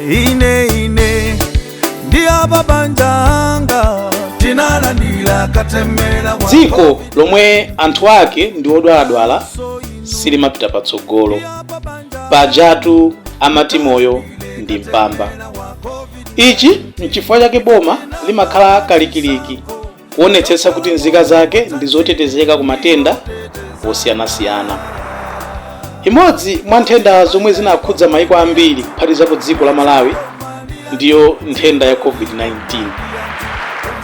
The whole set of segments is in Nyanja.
ine ine ndi apabanja anga tinalandira katemera dziko lomwe anthu ake ndi odwaladwala silimapita patsogolo pajatu amati moyo ndi mpamba ichi nchifukwa chake boma limakhala kalikiliki kuonetsetsa kuti nzika zake ndi zotetezeka ku matenda osiyanasiyana imodzi mwa nthenda zomwe zinakhudza maiko ambiri kuphatikizapo dziko la malawi ndiyo nthenda ya covid-19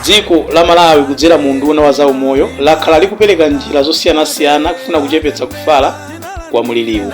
dziko la malawi kudzera mu unduna wa zaumoyo lakhala likupereka njira zosiyanasiyana kufuna kuchepetsa kufala kwa mliriwu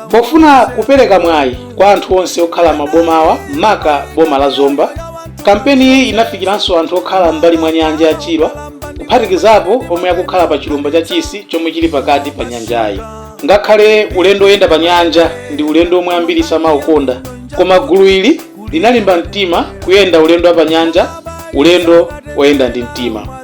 Pofuna kupereka mwayi kwa anthu onse okhala m'mabomawa maka boma la Zomba, kampeniyi inafikiranso anthu okhala m'mbali mwa nyanja ya Chilwa kuphatikizapo omwe akukhala pa chilumba cha Chisi chomwe chili pakati pa nyanjayi. Ngakhale ulendo oyenda pa nyanja ndi ulendo omwe ambiri samaukonda, koma gulu ili linalimba mtima kuyenda ulendo wa pa nyanja, ulendo oyenda ndi mtima.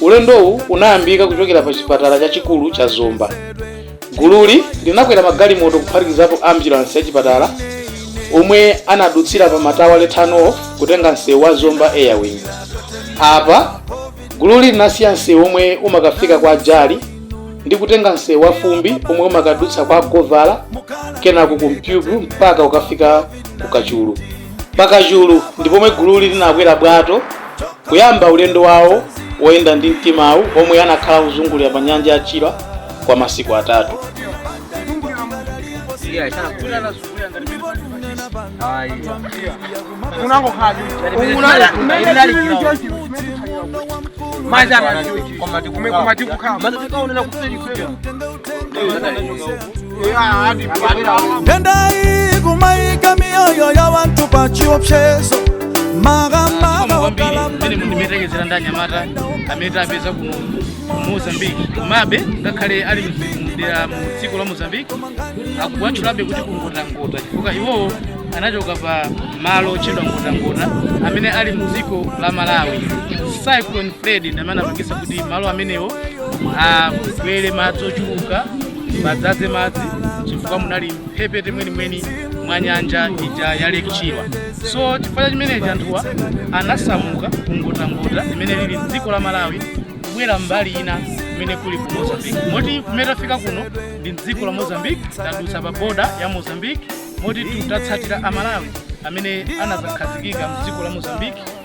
Ulendowu unayambika kuchokera pa chipatala chachikulu cha Zomba. Gululi linakwera magalimoto kuphatikizapo ambulansi ya chipatala omwe anadutsira pa Matawale turn off kutenga msewu wa Zomba Airwing. Apa gululi linasiya msewu omwe umakafika kwa Jali ndi kutenga msewu wa fumbi omwe umakadutsa kwa Govala kenako ku Mpyupyu mpaka kukafika ku kachulu pa kachulu ndi pomwe gululi linakwera bwato kuyamba ulendo wawo woyenda ndi mtimawu omwe anakhala kuzungulira pa nyanja ya chilwa kwa masiku atatu nthendayi kumayika miyoyo ya wanthu pa chiopsezo makamaka okalambamene monga mmene tayeserera ndi anyamata amene tapeza kuno ku mozambique komabe ngakhale ali mdera mu dziko la mozambique akuwatchulabe kuti ku Ngotangota chifukwa iwowo anachoka pa malo otchedwa ngotangota amene ali mu dziko la malawi cyclone freddy ndamene anapangisa kuti malo amenewo abwere madzi ochuluka madzadze madzi chifukwa munali mphepete mwenimweni mwa nyanja ija ya Lake Chilwa so chifukwa cha chimenechi anthuwa anasamuka ku Ngotangota imene ili m'dziko la Malawi kubwera mbali ina kumene kuli ku Mozambique moti kumene tafika kuno ndi m'dziko la Mozambique tadutsa pa boda ya Mozambique moti titatsatira a Malawi amene anadzakhazikika m'dziko la Mozambique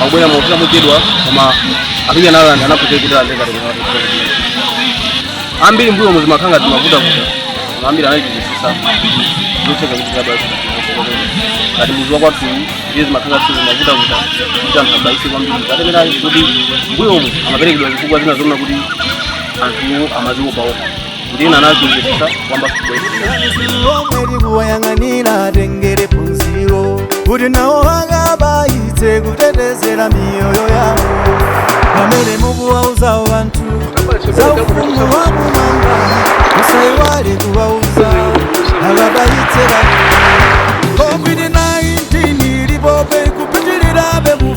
akubwera mofuna muchedwa koma apinya nalo anthu anakhuthzira kuti alandire katemera wa covid ambiri mbuyo mu zimakhala ngati zimavuta kuta koma ambiri anachitisa zotseka kukabaisa ngati mudzi wa kwathu ndiye zimakhala ngati zimavuta kuta kuti anthu abaise kwambiri katemera kuti mbuyomu amaperekedwa zifukwa zina zonena kuti anthu amaziopaopa ndina nazunzikisa kwambiri omwe alikuwayang'anira atengere phunziro kuti nawo vakabayitse kutetezera miyoyo yawo pamene mukuwauzawo vanthu za ufumu wa kumwamba musayiwale kuwauza akabayitse vanthu covid-19 ilipobe ikupitirirabe mu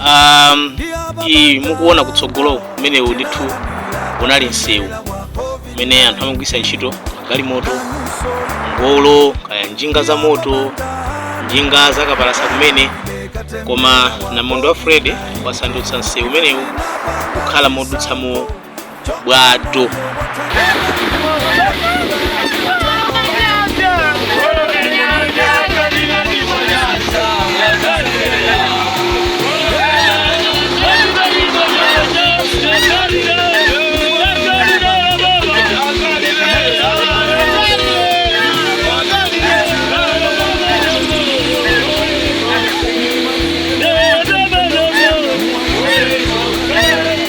um, iyi mukuona kutsogolo umenewu ndithu unali msewu umene anthu amagwisa ntchito galimoto ngolo kaya njinga za moto njinga zakapalasa kumene koma namondo wa freddy wasandutsa msewu umenewu kukhala modutsamo bwato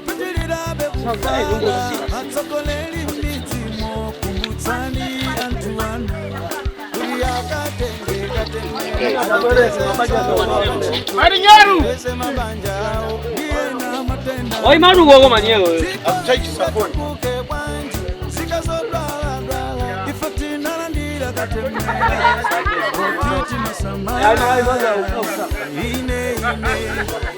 pitililabe kufa atsogoleri mmidzimu kumbutsani anthu anu kuti akatenge katemera Marinheiro! ese mabanja awo ndiye na matenda Oi, mano, uou, maninho. Buke bwanji zikazodwaladwala ife tinalandira katemera kuti timasamala ine ine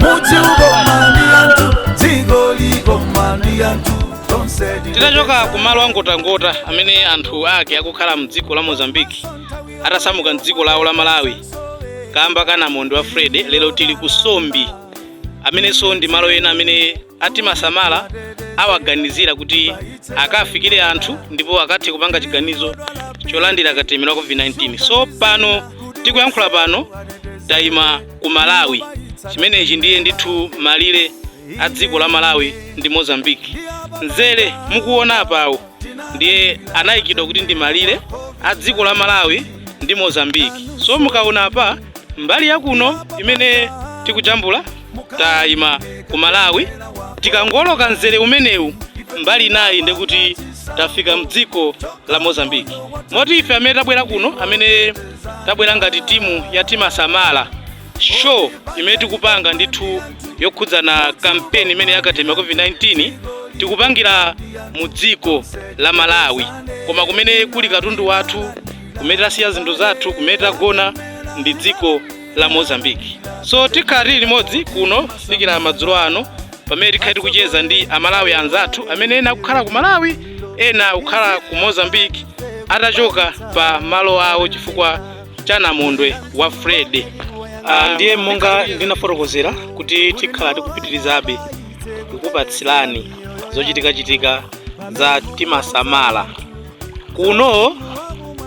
mudzi ukoma ndi anthu dziko likoma ndi anthu tonse tinachoka ku malo angotangota amene anthu ake akukhala mdziko la mozambiki atasamuka mdziko lawo la malawi kamba ka namondo wa freddy lero tili ku sombi amenenso ndi malo ena amene a timasamala awaganizira kuti akafikire anthu ndipo akathe kupanga chiganizo cholandira katemera wa covid-19 so pano tikuyankhula pano tayima ku malawi chimenechi ndiye ndithu malire a dziko la malawi ndi mozambiki mzere mukuona apawo ndiye anayikidwa kuti ndi malire a dziko la malawi ndi mozambiki so mukaona apa mbali ya kuno imene tikujambula tayima ku malawi tikangoloka mzere umenewu mbali inayi ndekuti tafika mdziko la mozambiki moti ife amene tabwera kuno amene tabwera ngati timu ya timasamala show imene tikupanga ndithu yokhudzana kampeni imene ya katemera wa covid-19 tikupangira mu dziko la malawi koma kumene kuli katundu wathu kumene tasiya zinthu zathu kumene tagona ndi dziko la mozambiki so tikhala tili limodzi kuno kufikira madzulo ano pamene tikhala tikucheza ndi amalawi anzathu amene ena akukhala ku malawi ena akukhala ku mozambiki atachoka pa malo awo chifukwa cha namondwe wa freddy Ah, ndiye monga ndinafotokozera kuti tikhala tikupitirizabe kukupatsirani zochitikachitika za timasamala kuno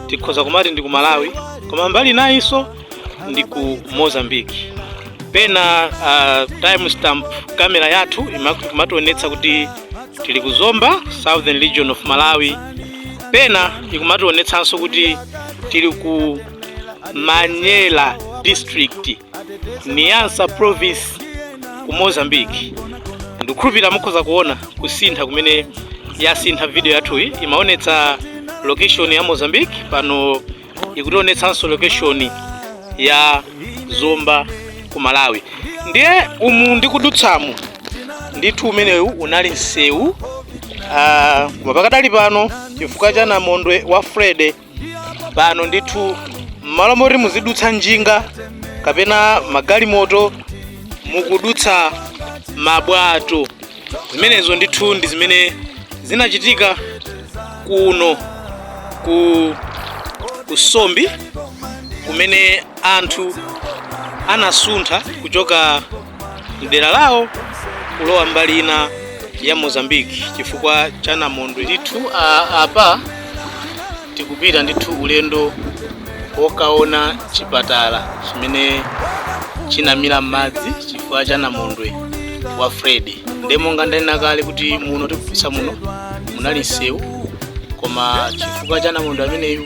tikhoza kumati ndi ku malawi koma mbali inayinso ndi ku mozambique pena uh, time stamp kamera yathu imationetsa kuti tili ku zomba southern region of malawi pena ikumationetsanso kuti tili ku manyela district niassa province ku mozambique ndikukhulupirira mukhoza kuona kusintha kumene yasintha video yathuyi imaonetsa location ya mozambique pano ikutionetsanso location ya zomba ku malawi ndiye umu ndikudutsamo ndithu umenewu unali msewu ah, koma pakadali pano chifukwa cha namondwe wa freddy pano ndithu mmalo moti muzidutsa njinga kapena magalimoto mukudutsa mabwato zimenezo ndithu ndi zimene zinachitika kuno ku kusombi kumene anthu anasuntha kuchoka mdera lawo kulowa mbali ina ya mozambiki chifukwa cha namondwe ndithu a- apa Tikupita ndithu ulendo wokaona chipatala chimene chinamira m'madzi chifukwa cha namondwe wa Freddy. Ndiye monga ndanena kale kuti muno tikudutsa muno munali msewu koma chifukwa cha namondwe ameneyu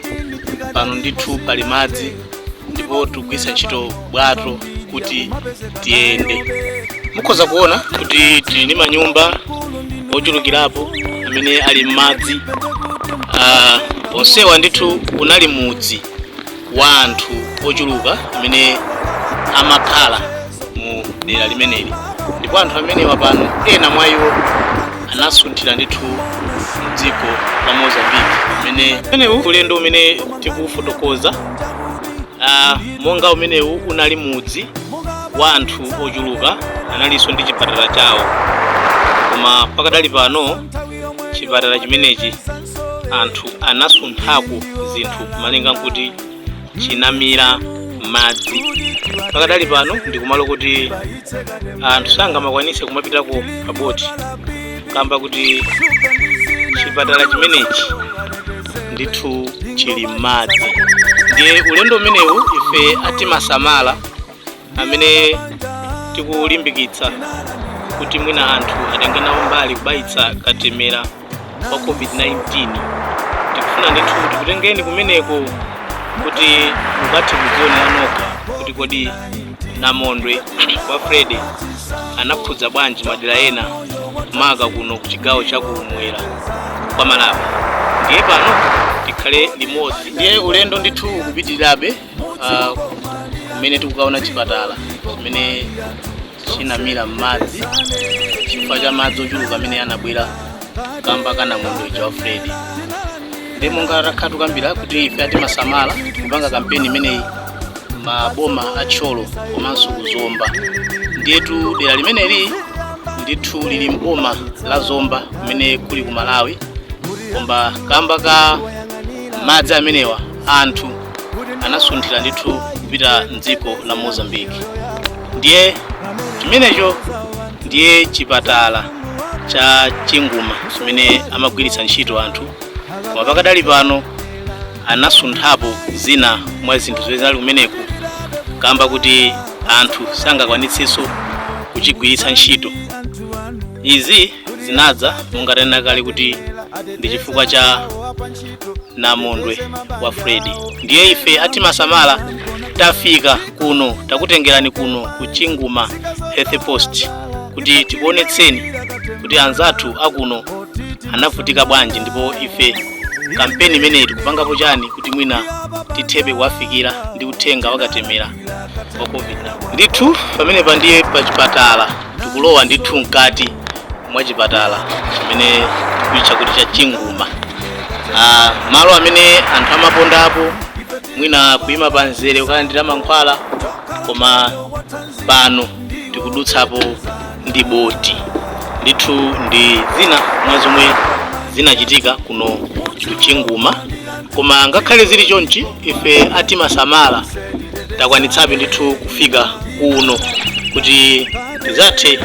pano ndithu pali madzi ndipo tikugwiritsa ntchito bwato kuti tiyende mukhoza kuona kuti tili ndi manyumba ochulukirapo amene ali m'madzi Ah, onsewa ndithu unali mudzi wa anthu ochuluka amene amakhala mu dera limeneli ndipo anthu amenewa pano ena mwa iwo anasunthira ndithu mdziko la mozambiki umene umenewu ulendo umene tikufotokoza ah, monga umenewu unali mudzi wa anthu ochuluka analinso ndi chipatala chawo koma pakadali pano chipatala chimenechi anthu anasunthako zinthu malinga nkuti chinamira m'madzi pakadali pano ndi kumalo kuti anthu sangamakwanitse kumapitako paboti kamba kuti chipatala chimenechi ndithu chili m'madzi ndiye ulendo umenewu ife atimasamala amene tikulimbikitsa kuti mwina anthu atenge nawo mbali kubayitsa katemera wa covid-19 tikufuna ndithu tikutengeni kumeneko kuti mukathe kudzionera nokha kuti kodi namondwe wa fredi anakhudza bwanji madera ena maka kuno ku chigawo cha kumwera kwa malawi ndiye pano tikhale limodzi ndiye ulendo ndithu ukupitirirabe kumene tikukaona chipatala chimene chinamira m'madzi chifukwa cha madzi ochuluka amene anabwera kamba ka namondwe uja wa fredi ndiye monga takhala tukambira kuti ife atimasamala tikupanga kampeni imeneyi maboma a thyolo komanso kuzomba ndiyetu dera limeneli ndithu lili mboma la zomba kumene kuli ku malawi koma kamba ka madzi amenewa anthu anasunthira ndithu kupita mdziko la mozambique ndiye chimenecho ndiye chipatala cha chinguma chimene amagwiritsa ntchito anthu koma pakadali pano anasunthapo zina mwa zinthu zimene zinali kumeneko kamba kuti anthu sangakwanitsenso kuchigwiritsa ntchito izi zinadza monga tanena kale kuti ndi chifukwa cha namondwe wa fredi ndiye ife atimasamala tafika kuno takutengerani kuno ku chinguma health post kuti tikuonetseni kuti anzathu akuno anavutika bwanji ndipo ife kampeni imeneyi tikupangapo chani kuti mwina tithebe kuwafikira ndi uthenga wakatemera wa covid-19 ndithu pamenepa ndiye pa chipatala Tikulowa ndithu mkati mwa chipatala chimene tikuitcha kuti cha Chinguma. Ah, malo amene anthu amapondapo mwina kuima pa mzere kukalandira mankhwala koma pano tikudutsapo ndi boti ndithu ndi zina mwa zomwe zinachitika kuno ku Chinguma koma ngakhale zili chonchi ife atimasamala takwanitsabe ndithu kufika kuno kuti tidzathe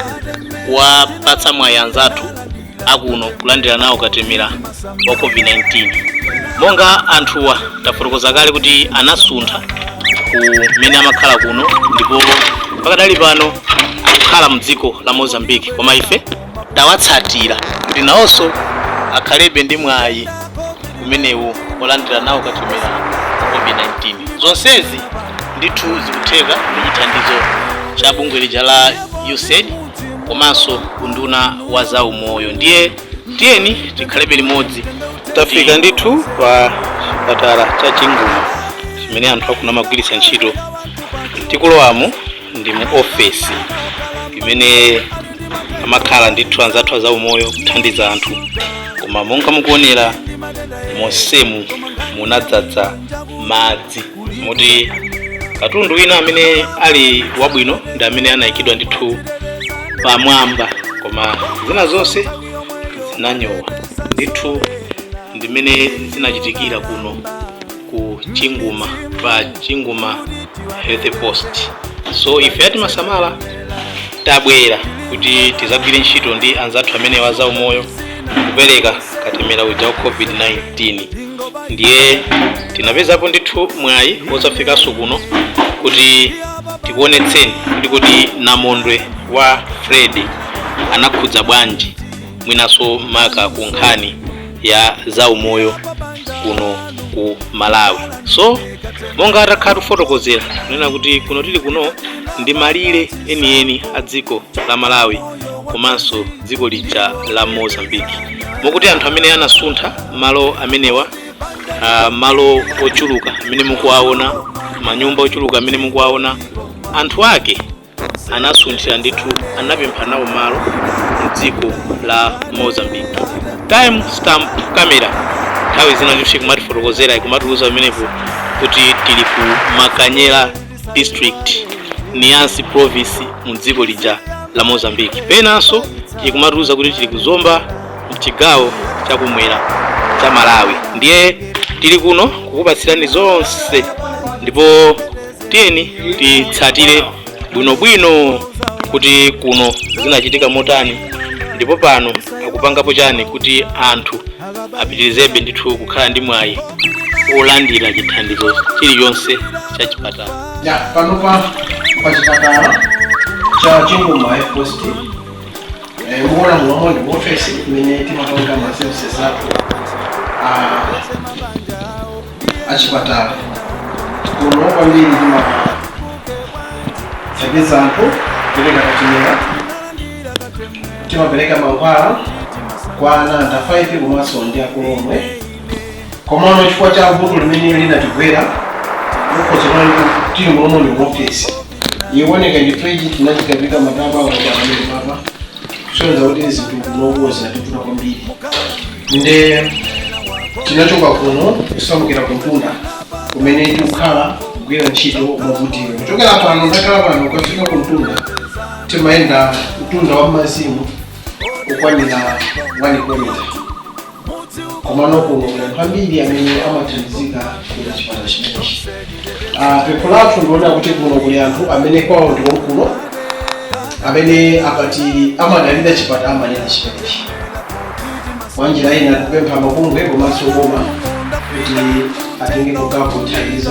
kuwapatsa mwayi anzathu akuno kulandira nawo katemera wa covid-19 monga anthuwa tafotokoza kale kuti anasuntha kumene amakhala kuno ndipo pakadali pano akukhala mdziko la mozambique koma ife tawatsatira kuti nawonso akhalebe ndi mwayi umenewu wolandira nawo katemera wa COVID-19. Zonsezi ndithu zikutheka ndi chithandizo cha bungwe lija la USAID komanso unduna wa zaumoyo. Ndiye tiyeni tikhalebe limodzi. Tafika ndithu pa chipatala cha Chinguma chimene anthu akuno amagwiritsa ntchito tikulowamo ndi mu ofesi imene amakhala ndithu anzathu a zaumoyo kuthandiza anthu koma monga mukuonera monsemu munadzadza madzi moti katundu wina amene ali wabwino ndi amene anayikidwa ndithu pamwamba koma zina zonse zinanyowa ndithu ndi mmene zinachitikira kuno ku chinguma pa chinguma health post so ife atimasamala tabwera kuti tizagwire ntchito ndi anzathu amenewa a zaumoyo kupereka katemera uja wa covid-19 ndiye tinapezapo ndithu mwayi wozafikanso kuno kuti tikuonetseni kuti kodi namondwe wa Freddy anakhudza bwanji mwinanso maka ku nkhani ya zaumoyo kuno ku malawi so monga takhala tikufotokozera kunena kuti kuno tili kuno ndi malire enieni a dziko la malawi komanso dziko lija la mozambique mokuti anthu amene anasuntha malo amenewa ah, malo ochuluka amene mukuwaona manyumba ochuluka amene mukuwaona anthu ake anasunthira ndithu anapempha nawo malo mdziko la mozambique time stamp camera nthawi zina ndithu ikumatifotokozera ikumatiuza pamenepo kuti tili ku Mecanhelas district Niassa province mu dziko lija la mozambique penanso ikumatiuza kuti tili ku zomba mchigawo chakumwera cha malawi ndiye tili kuno kukupatsirani zonse ndipo tiyeni titsatire bwinobwino kuti kuno zinachitika motani ndipo pano akupangapo chani kuti anthu apitirizebe ndithu kukhala ndi mwayi olandira chithandizo chilichonse cha chipatala ya panopa pa chipatala cha chinguma health post mukuona mulomu ndi mu ofesi imene timapanga ma services athu achipatala kuno kwambiri timathandiza anthu kupereka katemera timapereka mankhwala kwa ana under 5 komanso ndi akulu omwe komano chifukwa cha vuto limene linatigwera mukhoza kuti tili mulomu ndi mu ofesi iwoneka ndithu ichi chinachikapita matabwa awajaamene papa kusonyeza kuti zinthu kunokuwo zinatipfuta kwambiri nde tinachoka kuno kusamukira kumtunda kumene tikukhala kugwira ntchito mwakuti kuchokera pano ndakhala pano ukafika kumtunda timayenda mtunda wa mazimu wokwanira 1 kilomita komano kuno kuli anthu ambiri amene amathandizika kuchokera chipatala chimenechi Ah, pempho lathu ndikuona kuti kuno kuli anthu amene kwawo ndi konkuno amene akati amadalira chipatala amadalira chimenechi mwanjira ina kupempha mabungwe komanso boma kuti atengeko gawo kuthandiza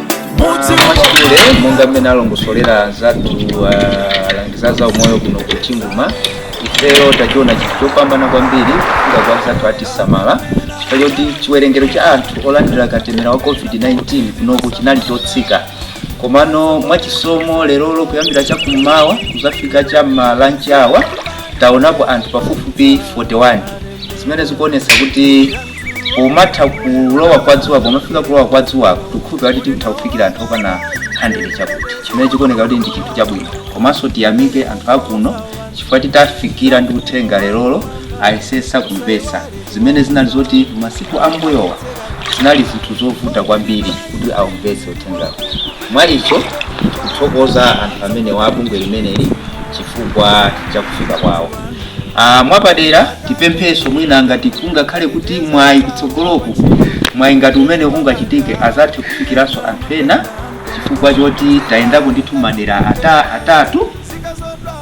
mwachidule monga mmene alongosolera anzathu alangiza za umoyo kuno ku chinguma ifeyo tachiona chinthu chopambana kwambiri kufika kwa anzathu atisamala chifukwa choti chiwerengero cha anthu olandira katemera wa covid-19 kunoku chinali chotsika komano mwachisomo lerolo kuyambira chakummawa kuzafika cha m'malanchi awa taonapo anthu pafupifupi 41 zimene zikuonesa kuti umatha kulowa kwa dzuwa pomafika kulowa kwa dzuwako tikukhulupira kuti titha kufikira anthu okwana 100 chakuti chimene chikuoneka kuti ndi chinthu chabwino komanso tiyamike anthu akuno chifukwa titafikira ndi uthenga lerolo ayesesa kumvetsa zimene zinali zoti masiku ambuyowa zinali zinthu zovuta kwambiri kuti aumvetse uthengawo mwa icho tikuthokoza anthu amenewa abungwe limeneli chifukwa cha kufika kwawo mwapadera. Tipemphenso mwina ngati kungakhale kuti mwayi kutsogoloku, mwayi ngati umene ungachitike azathe kufikiranso anthu ena chifukwa choti tayendako ndithu madera ata, atatu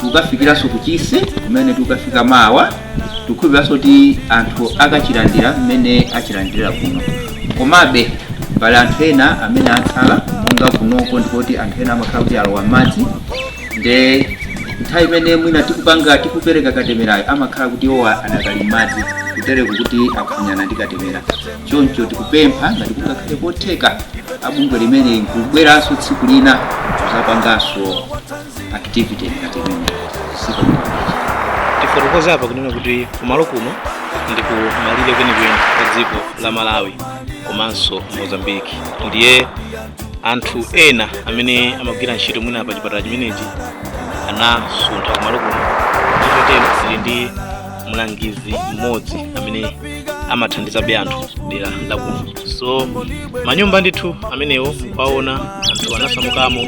tikafikiranso ku Chisi kumene tikafika mawa. Tikukhulupiriranso kuti anthu akachilandira mmene achilandirira kuno. Komabe pali anthu ena amene atsala monga kunoko ndikuti anthu ena amakhala kuti alowa m'madzi nde nthawi imene mwina tikupanga tikupereka katemerayo amakhala kuti iwowa adakali m'madzi kutereko kuti akuphonyana ndi katemera choncho tikupempha ngati kungakhale kotheka abungwe limeneli kubweranso tsiku lina kuzapanganso activity ngati imeneyi tifotokoze apa kunena kuti kumalo kuno ndi kumalire kwenikweni kwa dziko la malawi komanso mozambique ndiye anthu ena amene amagwira ntchito mwina pa chipatala chimenechi anasuntha kumalo kuno chotero tili ndi mlangizi mmodzi amene amathandizabe anthu dera lakuno so manyumba ndithu amenewo mukwaona anthu anasamukamo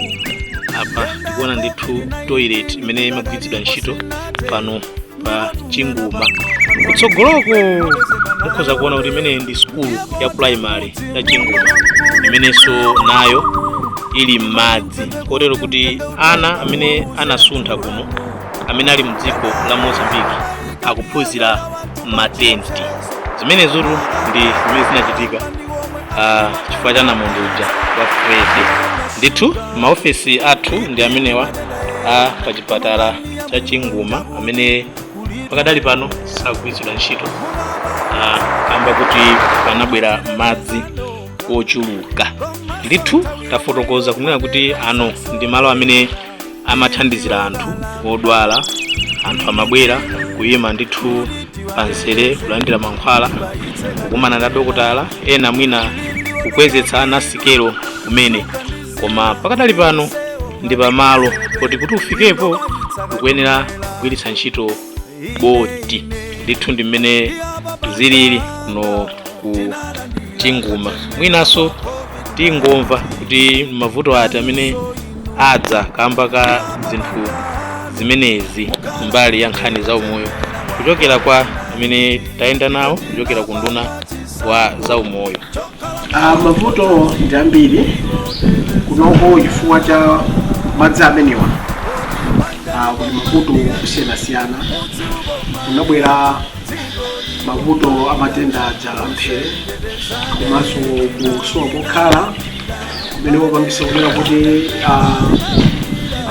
apa tikuona ndithu toilet imene imagwiritsidwa ntchito pano pa chinguma kutsogoloko mukhoza kuona kuti imeneyi ndi sukulu ya primary ya chinguma imenenso nayo ili m'madzi kotero kuti ana amene anasuntha kuno amene ali mdziko la mozambique akuphunzira m'matenti zimenezotu ndi zimene zinachitika ah, chifukwa cha namondwe uja wa freddy ndithu maofesi athu ndi amenewa a pa chipatala cha chinguma amene pakadali pano sakugwiritsidwa ntchito Ah, kamba kuti panabwera madzi ochuluka ndithu tafotokoza kunena kuti ano ndi malo amene amathandizira anthu odwala anthu amabwera kuyima ndithu panzere kulandira mankhwala kukumana ndi dokotala ena mwina kukwezetsa ana sikelo kumene koma pakadali pano ndi pamalo poti kuti ufikepo ukuyenera kugwiritsa ntchito boti ndithu ndi mmene zilili kuno ku chinguma mwinanso tingomva kuti mavuto ati amene adza kamba ka zinthu zimenezi mbali ya nkhani za umoyo kuchokera kwa amene tayenda nawo kuchokera ku nduna wa zaumoyo Ah, mavuto ndi ambiri kunoko chifukwa cha madzi amenewa ah, kuli mavuto osiyanasiyana kunabwera mavuto a matenda aja amphere komanso kusowa pokhala kumene kupangisa kunena kuti ah,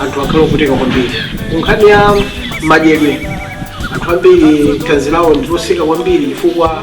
anthu akhale ovutika kwambiri kunkhani ya madyedwe anthu ambiri thanzi lawo ndilotsika kwambiri chifukwa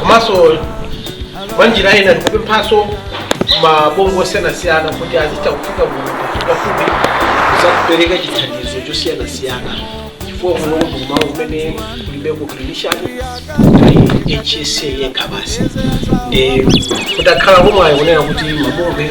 komanso mwa njira ina tikupemphanso mabungwe osiyanasiyana kuti azitha kufika kuno pafupipafupi kuzapereka chithandizo chosiyanasiyana chifukwa kuno kumalo kumene kulibeko clinician ndi hsa yekha basi ndi kutakhala kumwayi kunena kuti mabungwe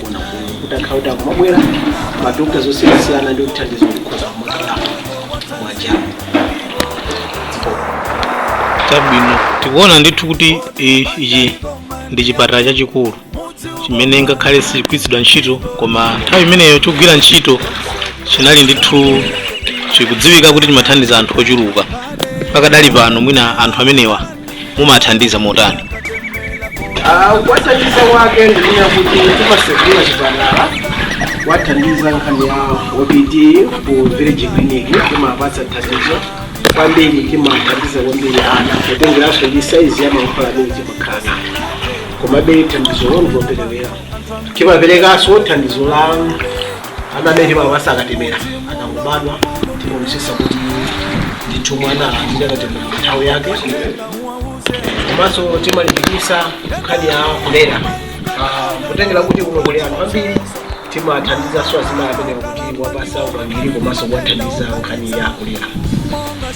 kutakhala kuti akumabwera madokta osiyanasiyana ndi kuthandiza kukhoza kumakhala mwajamu chabwino tikuona ndithu kuti i- ichi ndi chipatala chachikulu chimene ngakhale sichigwiritsidwa ntchito koma nthawi imeneyo chogwira ntchito chinali ndithu chikudziwika kuti chimathandiza anthu ochuluka pakadali pano mwina anthu amenewa mumathandiza motani Ah, kuwathandiza kwake ndikuya kuti timasegula chipatala kuwathandiza nkhani ya OPD ku village clinic timapatsa thandizo kwambiri timathandiza kwambiri ana kutengeranso ndi saizi ya mankhwala amene timakhala komabe thandizo loperewera timaperekanso thandizo la ana amene timawapasa katemera akangobadwa timaonetsetsa kuti ndithu mwana walandira katemera nthawi yake komanso timalimbikitsa nkhani ya kulera Ah, kutengera kuti kuno kuli anthu ambiri timathandizanso azimayi amenewa kuti wapasa upangiri komanso kuwathandiza nkhani ya kulera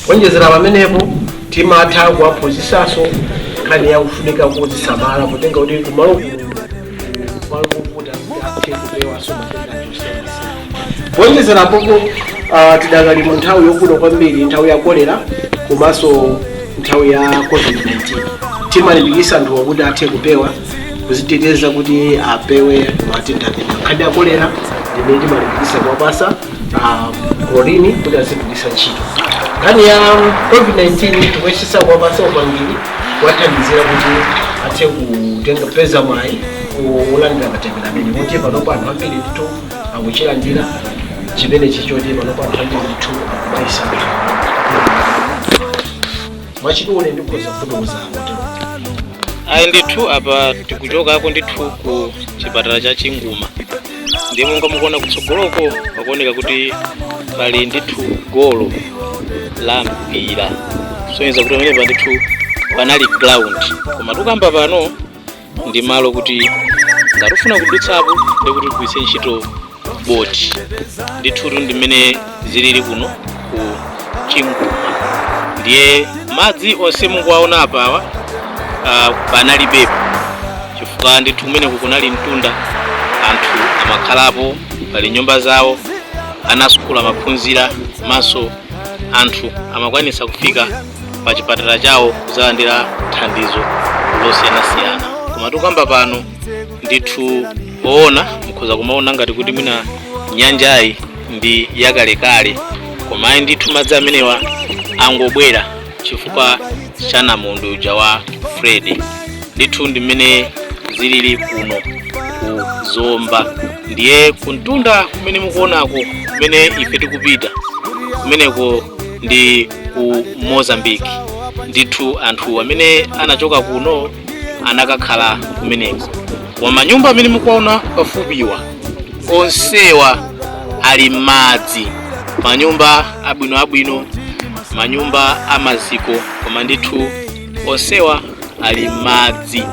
kuonjezera pamenepo timatha kuwaphunzitsanso nkhani ya kufunika kuzisamala kutengera kuti kumalo kuno malo movuta kuti athe kupewanso matenda achitsotso kuonjezera apopo ah, tidakali mu nthawi yovuta kwambiri nthawi ya kolera komanso nthawi ya covid-19 timalimbikitsa anthuwa kuti athe kupewa kuziteteza kuti apewe matenda amenewa nkhani ya kolera ndi imene timalimbikitsa kuwapasa klorini kuti azigwiritsa ntchito nkhani ya covid-19 tikuyesesa kuwapasa upangiri kuwathandiza kuti athe kutenga peza mwayi wolandira katemera amene kuti panopo anthu ambiri ndithu akuchilandira chimene chachititsa kuti panopo anthu ambiri ndithu akubayisa mwachidule ndikhoza kufotokoza kuti ayi ndithu apa tikuchokako ndithu ku chipatala cha chinguma ndiye monga mukuona kutsogoloko pakuoneka kuti pali ndithu golo la mpira kusonyeza kuti pamenepa ndithu panali ground koma tikukamba pano ndi malo kuti ngati ufuna kudutsapo ndikuti ugwiritse ntchito boti ndithutu ndi mmene zilili kuno ku chinguma ndiye madzi onse mukuwaona apawa uh, panalibepo chifukwa ndithu kumeneku kunali mtunda anthu amakhalapo pali nyumba zawo ana asukulu amaphunzira komanso anthu amakwanisa kufika pa chipatala chawo kuzalandira thandizo losiyanasiyana koma tikamba pano ndithu poona mukhoza kumaona ngati kuti mwina nyanjayi ndi yakalekale koma ayi ndithu madzi amenewa angobwera chifukwa cha namondwe uja wa fred ndithu ndi mmene zilili kuno ku zomba ndiye kumtunda kumene mukuonako kumene ife tikupita kumeneko ndi ku mozambiki ndithu anthu amene anachoka kuno anakakhala kumeneko koma manyumba amene mukuwaona pafupiwa onsewa ali m'madzi manyumba abwinoabwino manyumba amaziko koma ndithu onsewa ali m'madzi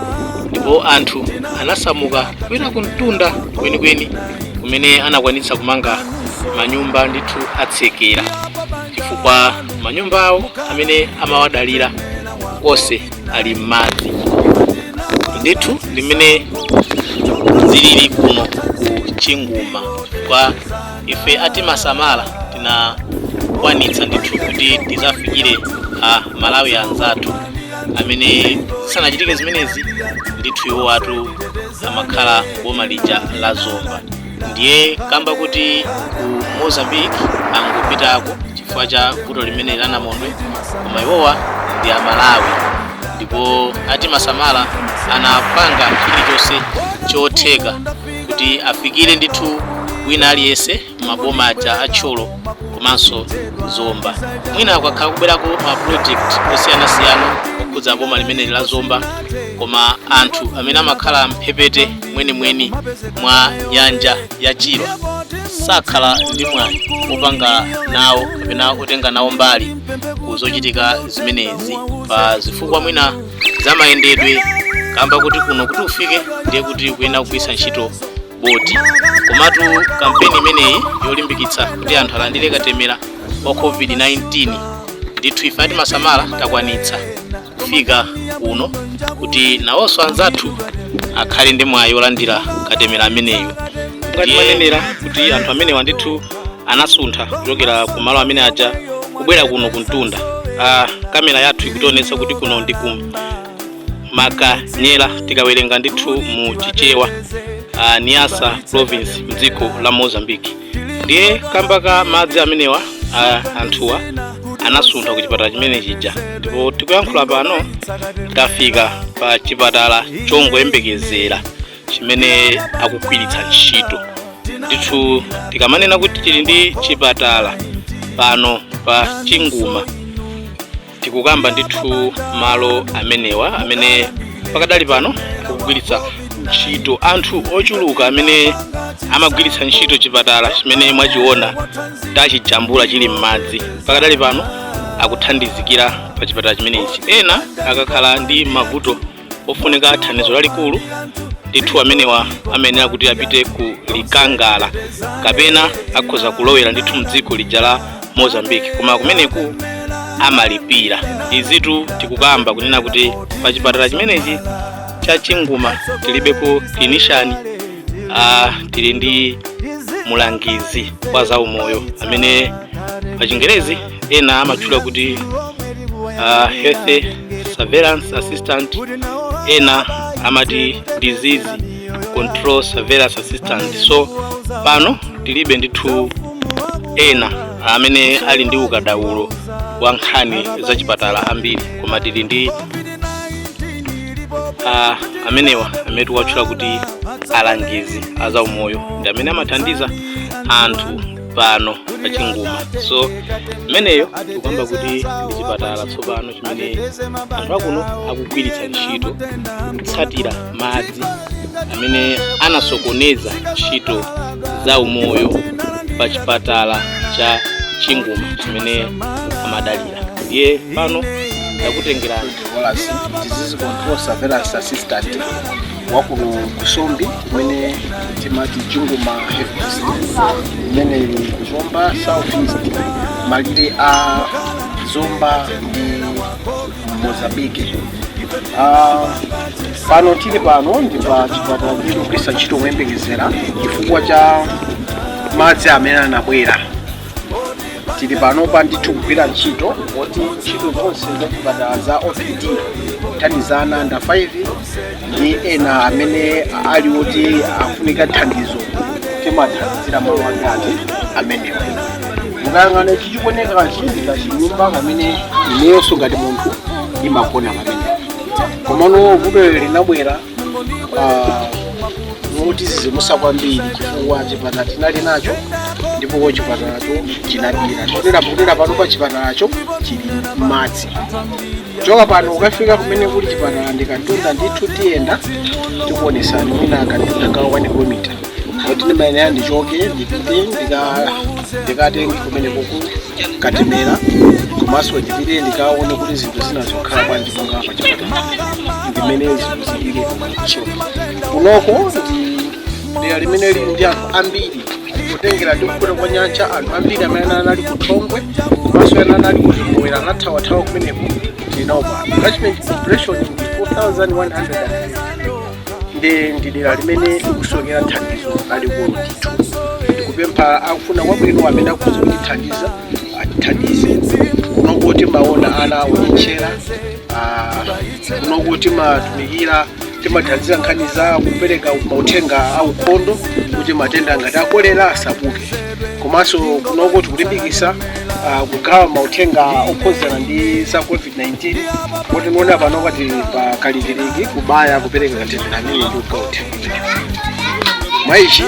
ndipo anthu anasamuka kwina kumtunda kwenikweni kumene anakwanitsa kumanga manyumba ndithu atsekera chifukwa manyumba awo amene amawadalira onse ali m'madzi ndithu ndi mmene zilili kuno ku chinguma kwa ife atimasamala tinakwanitsa ndithu kuti tidzafikire amalawi anzathu amene zisanachitike zimenezi ndithu iwo atu amakhala boma lija la zomba ndiye kamba kuti ku mozambique angopitako chifukwa cha vuto limene la namondwe koma iwowa ndi amalawi ndipo atimasamala anapanga chilichonse chotheka kuti afikire ndithu wina aliyense maboma aja a thyolo komanso zomba mwina akhala kubwerako ma project osiyanasiyana okhudza boma limeneli la zomba koma anthu amene amakhala mphepete mwenimweni mwa nyanja ya chilwa sakhala ndi mwayi opanga nawo kapena otenga nawo mbali ku zochitika zimenezi pa zifukwa mwina za mayendedwe kamba kuti kuno kuti ufike ndiye kuti ukuyenera kugwiritsa ntchito boti komatu kampeni imeneyi yolimbikitsa kuti anthu alandire katemera wa covid-19 ndithu ife atimasamala takwanitsa kufika kuno kuti nawonso anzathu akhale ndi mwayi wolandira katemera ameneyu ngati manenera kuti anthu amenewa ndithu anasuntha kuchokera ku malo amene aja kubwera kuno kumtunda ah, kamera yathu ikutionetsa kuti kuno ndi ku makanyera tikawerenga ndithu mu chichewa ah, niassa province mdziko la mozambique ndiye kamba ka madzi amenewa a anthuwa anasuntha ku chipatala chimene chija ndipo tikuyankhula pano tafika pa chipatala chongoyembekezera chimene akugwiritsa ntchito ndithu tikamanena kuti tili ndi chipatala pano pa chinguma tikukamba ndithu malo amenewa amene pakadali pano akugwiritsa ntchito anthu ochuluka amene amagwiritsa ntchito chipatala chimene mwachiona tachijambula chili m'madzi pakadali pano akuthandizikira pa chipatala chimenechi ena akakhala ndi mavuto ofunika thandizo lalikulu ndithu amenewa amayenera kuti apite ku likangala kapena akhoza kulowera ndithu mdziko lija la mozambique koma kumeneku amalipira izitu tikukamba kunena kuti pa chipatala chimenechi cha chinguma tilibepo clinician ah, tili ndi mulangizi wa zaumoyo amene pa chingerezi ena amatchula kuti uh, health surveillance assistant ena amati disease control surveillance assistant so pano tilibe ndithu ena amene ali ndi ukadaulo wa nkhani za chipatala ambiri koma tili ndi uh, amenewa amene tikuwatchula kuti alangizi azaumoyo ndi amene amathandiza anthu pano pa chinguma so imeneyo tikukamba kuti ndi chipatala tsopano chimene anthu akuno akugwiritsa ntchito kutsatira madzi amene anasokoneza ntchito za umoyo pa chipatala cha chinguma chimene amadalira ndiye pano ndakutengerani disease control surveillance assistant wakuno kusombi kumene timati chinguma headquarters imene ili ku zomba south east malire a zomba ndi mozambique Ah, pano tili pano ndi pa chipatala tikugwiritsa ntchito kuyembekezera chifukwa cha madzi amene anabwera tili panopa ndithu kugwira ntchito poti ntchito zonse zachipatala za opd kuthandizana under 5 ndi ena amene ali oti afunika thandizo timathandizira malo ngati amenewa mukayang'ana ichi chikuoneka chinyumba chimene ineyonso ngati munthu ndimagona pamenepo komano vuto linabwera motizizimutsa kwambiri chifukwa chipatala tinali nacho ndipo chipatalacho chinamira tikutera kutera pano pa chipatalacho chili mmadzi kuchoka pano kukafika kumene kuli chipatala ndi kamtunda ndithu tiyenda tikuonetsani mwina kamtunda ka wani kilomita koti ndimayenera ndichoke ndipite ndika- ndikatenge kumene kuli katemera komanso ndipite ndikaone kuti zinthu zinazo zikhala bwanji monga pa chipatala ndimene zinthu zilili so kunoko ndi dera limene lili ndi anthu ambiri kutengera ndi kukwera kwa nyanja anthu ambiri amene anali ku thongwe komanso ena anali ku zimowera anathawathawa kumeneko ndinaopa catchment population ndi 4100 ndi ndi dera limene likusowekera thandizo lalikulu ndithu ndikupempha akufuna kwabwino amene akhoza kutithandiza atithandize kunoko timaona ana onyentchera ah, kunoko tikutumikira timathandiza nkhani za kupereka mauthenga a ukhondo kuti matenda ngati akolera asabuke komanso kunoko tikulimbikisa ah, kugawa mauthenga okhuzana ndi za covid-19 kuti nonga pano tili pa kalikiliki kubaya kupereka katemera amene ndi kugawa uthenga mwa ichi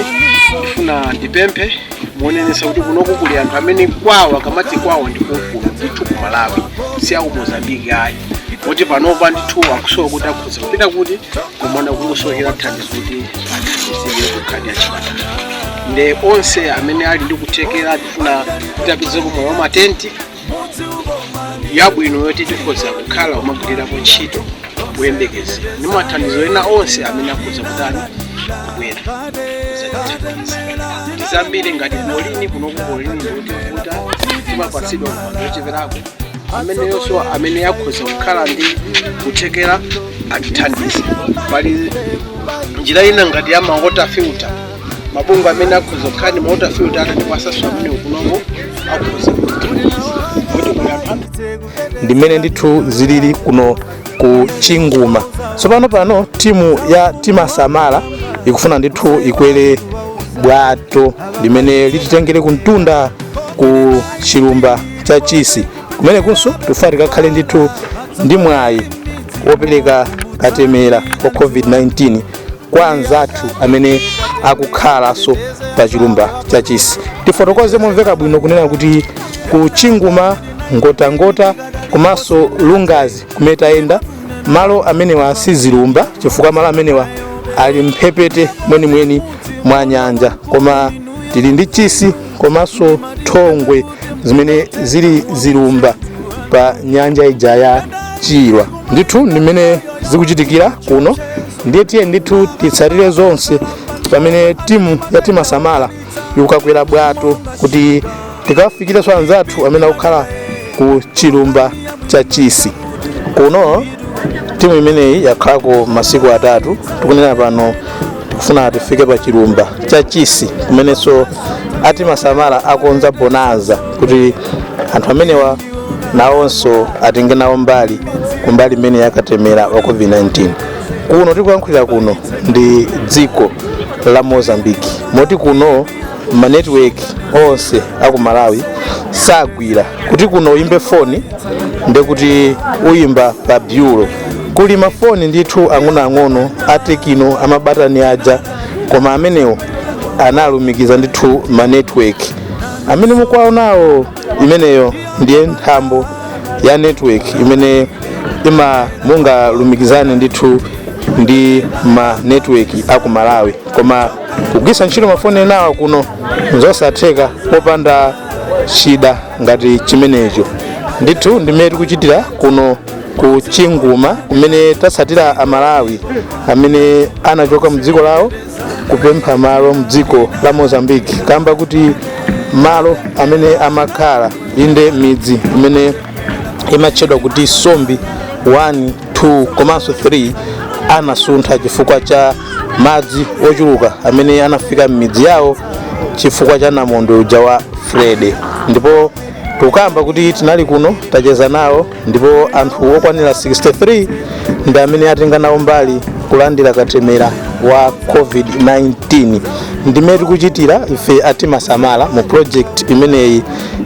ndifuna ndipemphe muonenesa kuti kunoko kuli anthu amene kwawo akamati kwawo ndi kunkuno ndithu ku malawi si aku mozambiki ayi kuti panopa ndithu akusowa kuti akhoza kupita kuti kunona kukusowekera thandizo kuti athandizike kunkhani ya chipatala nde onse amene ali ndi kuthekera tifuna titapeza kunoko matenti yabwino yoti tikhoza kukhala umagwirirapo ntchito kuyembekeza ndi mathandizo ena onse amene akhoza kutani kubwera kuzatithandiza ndizambiri ngati klorini kunoku klorini ikutivuta timapatsidwa wambiri ocheperako amene onsewa amene akhoza kukhala ndi kuthekera atithandize pali njira ina ngati ya mawota filter mabungwe amene akhoza kukhala ndi mawota filter atatipatsanso amenewo kunoko akhoza kuthandiza kuti kuli anthu ambiri ndi mmene ndithu zilili kuno ku chinguma tsopano pano timu ya timasamala ikufuna ndithu ikwere bwato limene lititengere kumtunda ku chilumba cha chisi kumenekunso tufuna tikakhale ndithu ndi mwayi wopereka katemera wa covid-19 kwa anzathu amene akukhalanso pa chilumba cha chisi tifotokoze momveka bwino kunena kuti ku chinguma ngotangota komanso lungazi kumene tayenda malo amenewa si zilumba chifukwa malo amenewa ali mphepete mwenimweni mwa nyanja koma tili ndi chisi komanso thongwe zimene zili zilumba pa nyanja iyi ya chilwa ndithu ndi mmene zikuchitikira kuno ndiye tiye ndithu titsatire zonse pamene timu ya timasamala ikukakwera bwato kuti tikawafikirenso anzathu amene akukhala ku chilumba cha chisi kuno timu imeneyi yakhalako masiku atatu tikunena pano tikufuna tifike pa chilumba cha chisi kumenenso a timasamala akonza bonanza kuti anthu amenewa nawonso atenge nawo mbali kumbali imeneyi yakatemera wa covid-19 kuno tikuyankhulira kuno ndi dziko la mozambiki moti kuno ma network onse aku malawi sagwira kuti kuno uyimbe foni ndekuti uyimba pa bureau kuli mafoni ndithu ang'onoang'ono atekino amabatani aja koma amenewo analumikiza ndithu ma network amene mukuwaonawo imeneyo ndiye nthambo ya network imene ima mungalumikizane ndithu ndi ma network aku malawi koma kugwiritsa ntchito mafoni enawa kuno nzosatheka popanda chida ngati chimenecho ndithu ndimene tikuchitira kuno ku chinguma kumene tatsatira amalawi amene anachoka mdziko lawo kupempha malo mdziko la mozambique kamba kuti malo amene amakhala inde midzi imene imatchedwa kuti sombi 1 2 komanso 3 anasuntha chifukwa cha madzi ochuluka amene anafika m'midzi yawo chifukwa cha namondwe uja wa freddy ndipo tukamba kuti tinali kuno tacheza nawo ndipo anthu okwanira 63 ndi amene atenga nawo mbali kulandira katemera wa covid-19 ndimene tikuchitira ife atimasamala mu project imeneyi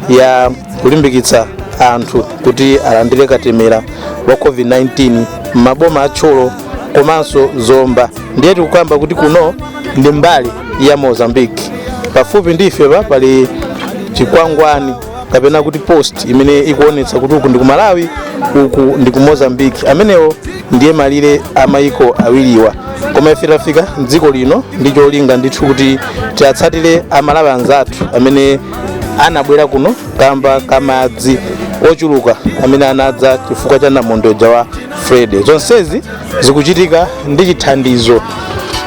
ya kulimbikitsa anthu kuti alandire katemera wa covid-19 m'maboma a thyolo komanso zomba ndiye tikukamba kuti kuno ndi mbali ya mozambique pafupi ndi ifepa pali chikwangwani kapena kuti post imene ikuonetsa kuti uku ndi ku malawi uku ndi ku mozambique amenewo ndiye malire a maiko awiriwa koma ife tafika mdziko lino ndi cholinga ndithu kuti tiatsatire amalawi anzathu amene anabwera kuno kamba ka madzi ochuluka amene anadza chifukwa cha namondwe uja wa freddy zonsezi zikuchitika ndi chithandizo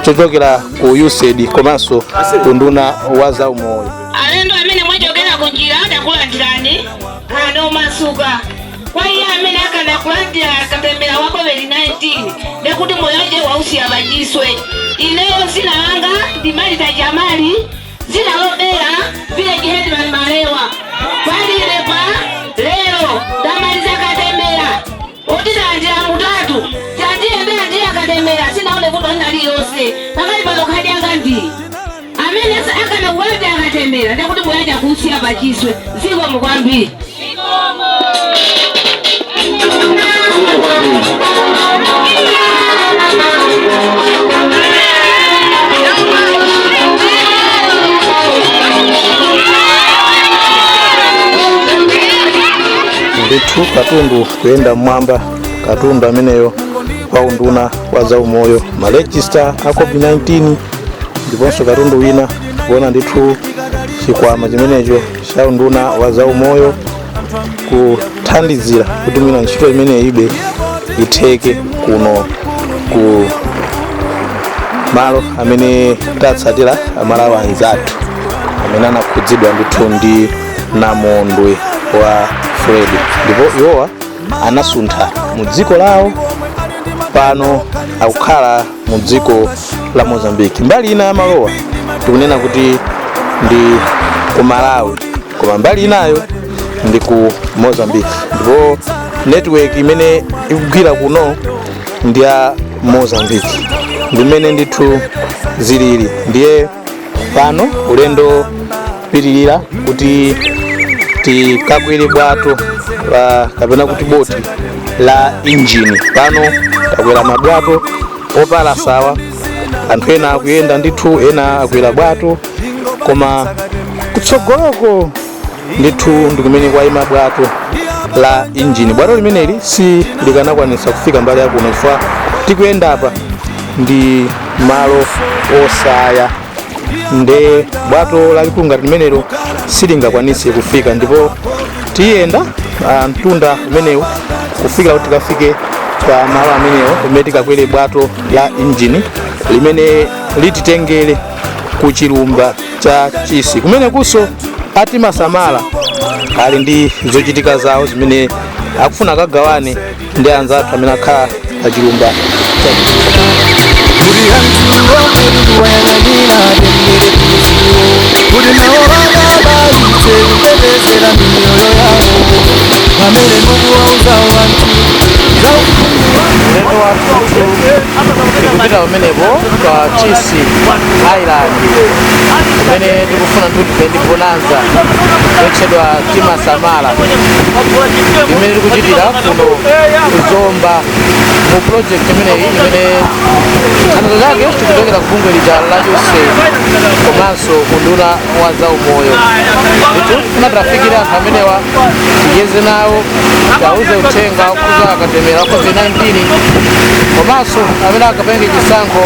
chochokera ku usaid komanso ku unduna wa zaumoyo alendo amene mwachokera ku njira takulandirani khalani omasuka kwa iye amene akana kulandira katemera wa covid-19 ndekuti moyo wace wausiya pachiswe ineyo dzina langa ndi marita jamali dzina lobera village headman malewa kwandire pa lero ndamaliza katemera kuti ndalandira mutatu chiyambire kulandira katemera sindinaone vuto lina lililonse pakali pano khadi yanga ndiyi amene akana kubayitsa katemera ndekuti moyo wace akusiya pachiswe zikomo kwambiri ndithu katundu kuyenda mmwamba katundu ameneyo kwa unduna wa zaumoyo malejista a covid-19 ndiponso katundu wina kuona ndithu chikwama chimenecho cha unduna wa zaumoyo kuthandizira kuti mwina ntchito imene ibe itheke kuno ku malo amene tatsatira amalawi anzathu amene anakhudzidwa ndithu ndi namondwe wa fred ndipo iwowa anasuntha mu dziko lawo pano akukhala mu dziko la mozambique mbali ina ya malowa tikunena kuti ndi ku malawi koma mbali inayo ndi ku mozambique ndipo network imene ikugwira kuno ndi ya mozambique ndimene ndithu zilili ndiye pano ulendo pitirira kuti tikakwere bwato kapena kuti boti la injini pano takwera mabwato opalasawa anthu ena akuyenda ndithu ena akwera bwato koma kutsogoloko ndithu ndi kumene kwayima bwato la injini bwato limeneli silikanakwanitsa kufika mbali yakuno chifukwa tikuyenda apa ndi malo osaya nde bwato lalikulu ngati limenelo silingakwanitse kufika ndipo tiyenda mtunda umenewu kufikira kuti tikafike pa malo amenewo kumene tikakwere bwato la injini limene lititengere ku chilumba cha chisi kumenekunso a timasamala ali ndi zochitika zawo zimene akufuna akagawane ndi anzathu amene akhala pa chilumba tikupita pamenepo pa chisi island imene tikufuna tithe ndi bonanza yotchedwa timasamala imene tikuchitira kuno ku zomba mu project imeneyi imene thandizo lake likuchokera ku bungwe lija la usaid komanso unduna wa zaumoyo ndithu tiwafikire anthu amenewa ticheze nawo tiwauze uthenga okhuza katemera wa covid-19 komanso amene akapange chisankho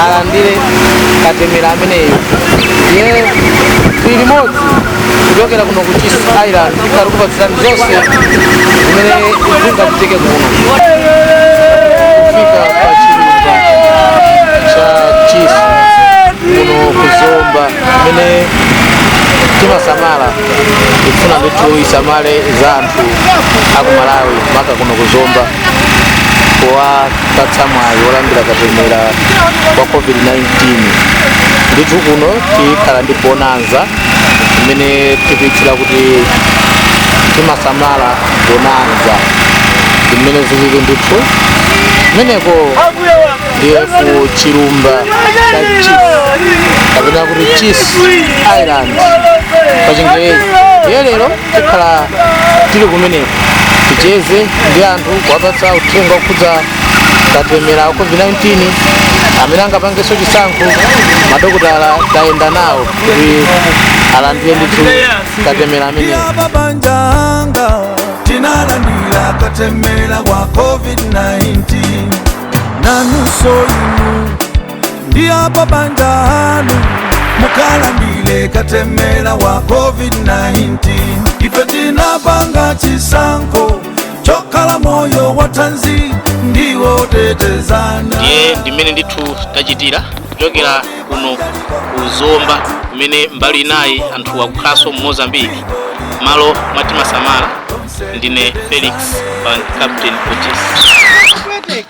alandire katemera ameneyo ndiye tili limodzi kuchokera kuno ku Chisi Island tikhala tikupatsirani zonse zimene zingachitike kuno kufika pa chilumba cha Chisi kuno ku Zomba kumene timasamala ikufuna ndithu isamale za anthu aku Malawi maka kuno ku Zomba powapatsa mwayi wolandira katemera wa covid-19 ndithu kuno tikhala ndi bonanza imene tikuitchula kuti timasamala bonanza zimene zilili ndithu kumeneko ndiye ku chilumba cha Chisi kapena kuti Chisi island pa chingerezi ndiye lero tikhala tili kumeneko ticheze ndi anthu kuwapatsa uthenga okhudza katemera wa covid-19 amene angapangenso chisankho madokotala tayenda nawo kuti alandire ndithu katemera ameneyo yababanjanga tinalandira katemera wa covid-19 nanunso ndi apa banja anu mukalandire katemera wa covid-19 ife tinapanga chisankho chokhala moyo wa thanzi ndi wotetezana ndiye ndimene ndithu tachitira kuchokera kuno ku zomba kumene mbali inayi anthu akukhalanso mu mozambiki mmalo mwa timasamala ndine felix van captain otis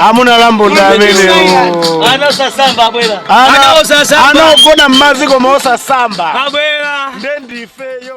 amuna lambunda amenewo ana osasamba abwera Ana osasamba. ana ogona mmadzi koma osasamba abwera nde ndifeyo